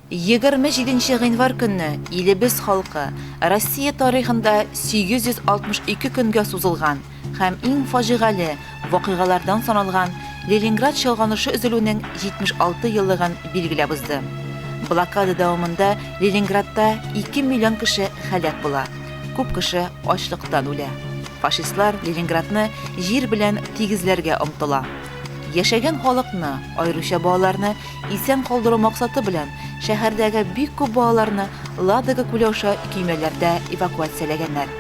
Егерме җиденче гыйнвар көнне илебез халкы Россия тарихында 862 көнгә сузылган һәм иң фаҗигале вакыйгалардан саналган Ленинград чолганышы өзелүнең 76 еллыгын билгеләп узды. Блокада дәвамында Ленинградта ике миллион кеше һәлак була, күп кеше ачлыктан үлә. Фашистлар Ленинградны җир белән тигезләргә омтыла. Яшәгән халыкны, аеруча балаларны, Исән калдыру максаты белән шәһәрдәге бик күп балаларны Ладога күле аша көймәләрдә эвакуацияләгәннәр.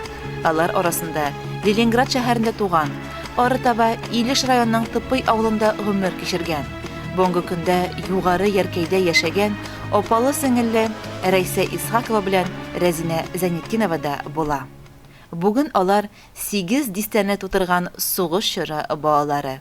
Алар арасында Ленинград шәһәрендә туган, арытаба Илеш районының Тыпый авылында гомер кичергән, бүгенге көндә Югары Яркәйдә яшәгән апалы-сеңелле Рәйсә Исхакова белән Рәзинә Зәйнетдинова да була. Бүген алар сигез дистәне тутырган сугыш чоры балалары.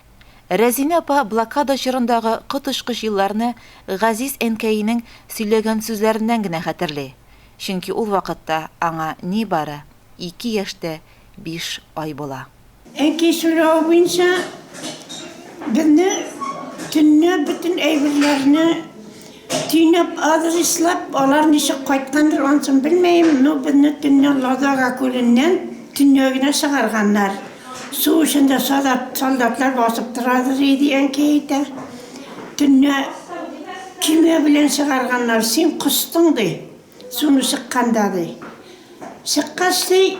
Рәзинә апа блокада чорындагы коточкыч елларны газиз әнкәенең сөйләгән сүзләреннән генә хәтерли, чөнки ул вакытта аңа нибары ике яшьтә биш ай була. Әти сорау буенча безне төнлә бөтен әйберләрне Төйнәп адрес эзләп, алар ничек кайткандыр, ансын белмим, но безне төнлә Ладога күленнән төньягына чыгарганнар. Су эчендә солдат, солдатлар басып торадыр иде, әнкәй әйтә. Төнлә көймә белән чыгарганнар, син костың, ди, суны чыкканда, ди. Чыккач, ди,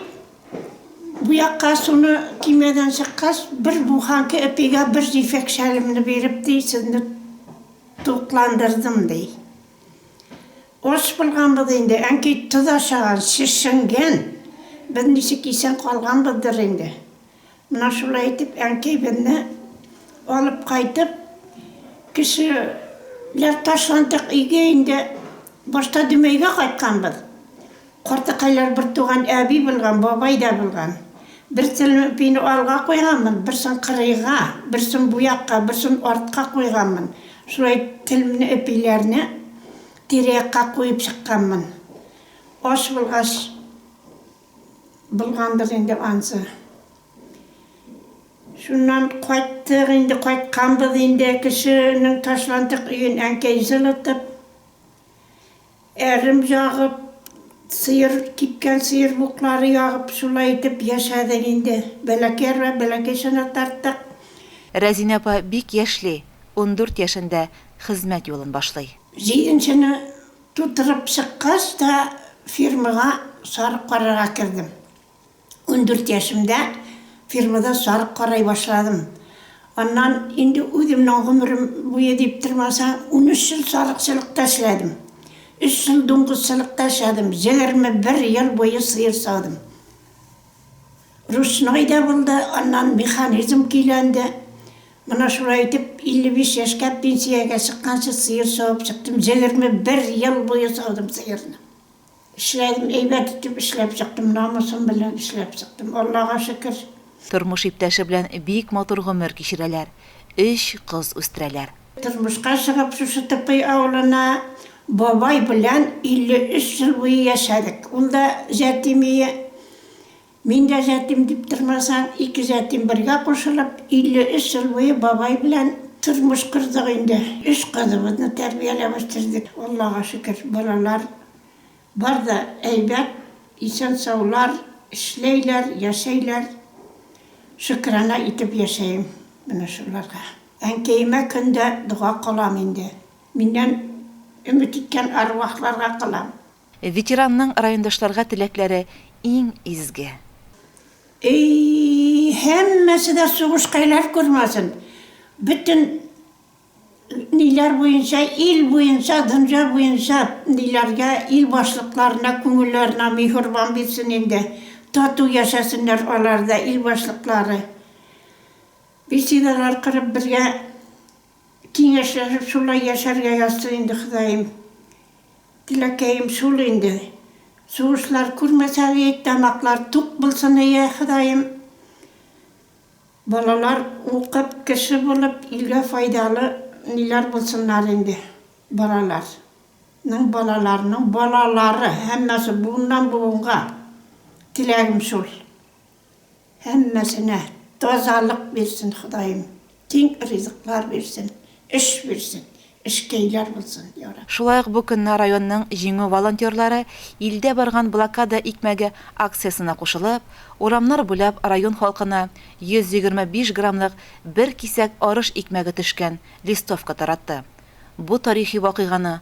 бу якка суны көймәдән чыккач, бер буханка эпигә бер җефәк шәлемне биреп, ди, сезне Тукландырдым, ди. Ач булганбыз инде, әнкәй тоз ашаган, шешенгән. Без ничек исән калганбыздыр инде. Менә шулай итеп, әнкәйбезне алып кайтып, кешеләр ташландык өйгә инде, башта Дөмәйгә кайтканбыз. Картакайлар бертуган әби булган, бабай да булган. Бер телем ипине алга куйганмын, берсен кырыйга, берсен бу якка, берсен артка куйганмын. Шулай телемне, ипиләрне тирә-якка куеп чыкканмын. Ач булгач булгандыр инде ансы. Шуннан кайттык инде, кайтканбыз инде, кешенең ташландык өен әнкәй җылытып. Әрем ягып, сыер, кипкән сыер буклары ягып, шулай итеп яшәдек инде. Бәләкәй арба, бәләкәй чана тарттык. Рәзинә апа бик яшьли, ундүрт яшендә хезмәт юлын башлый. Җиденчене тутырып чыккач та фермага сарык карарга кердем. Ундүрт яшемдә фирмада сарык карай башладым. Аннан инде үземнең гомерем буе дип тормасаң, унөч ел сарыкчылыкта эшләдем. Өч ел дуңгызчылыкта эшләдем, егерме бер ел буе сыер саудым. Ручной да булды, аннан механизм көйләнде. Менә шулай итеп, илле биш яшькә пенсиягә чыкканчы сыер савып чыктым, егерме бер ел буе саудым сыерны. Эшләдем, әйбәт итеп эшләп чыктым, намусым белән эшләп чыктым, Аллага шөкер. Тормыш иптәше белән бик матур гомер кичерәләр, өч кыз үстерәләр. Тормышка чыгып, шушы Тыпый авылына бабай белән 53 ел буе яшәдек. Ул да җәтимие. Мин дә җәтим дип тормасаң, ике җәтим бергә кушылып, 53 ел буе бабай белән тормыш кордык инде. Өч кызыбызны тәрбияләп үстердек. Аллага шөкер, балалар бар да әйбәт, исән-саулар, эшләйләр, яшәйләр. Шөкерана итеп яшәем менә шуларга. Әнкәемә көн дә дога кылам инде. Миннән өмет иткән арвахларга кылам. Ветеранның райондашларга теләкләре иң изге. Эйййй, һәммәсе дә сугыш хәйләл күрмәсен, бөтен ниләр буенча, ил буенча, дөнья буенча ниләргә, ил башлыкларына күңелләренә михурбан бирсен инде, тату яшәсеннәр алар да, ил башлыклары. Беседалар корып бергә. Киңәшләшеп шулай яшәргә язсын инде Ходаем. Теләкәем шул инде. Сугышлар күрмәсә ид, тамаклар тук булсын ие Ходаем. Балалар укып, кеше булып, илгә файдалы ниләр булсыннар инде. Балалар. Ның балаларының балалары, һәммәсе буыннан буынга. Теләгем шул. Һәммәсенә тазалык бирсен Ходаем, тиң ризыклар бирсен, эш бирсен, эшкәйләр булсын, я Рабб. Шулай ук бу көнне районның Җиңү волонтерлары Илдә барган блокада икмәге акциясенә кушылып, урамнар буйлап район халкына 125 граммлык бер кисәк арыш икмәге төшкән листовка таратты. Бу тарихи вакыйганы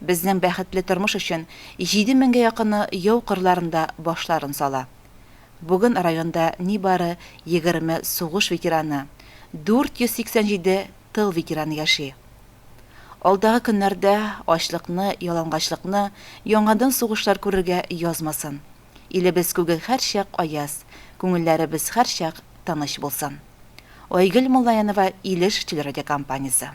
Безнең бәхетле тормыш өчен җиде меңгә якыны яу кырларында башларын сала. Бүген районда нибары егерме сугыш ветераны, 487 тыл ветераны яши. Алдагы көннәрдә ачлыкны, ялангачлыкны яңадан сугышлар күрергә язмасын. Илебез күге һәрчак аяз, күңелләребез һәрчак тыныч булсын. Айгөл Муллаянова, Илеш телерадиокомпаниясе.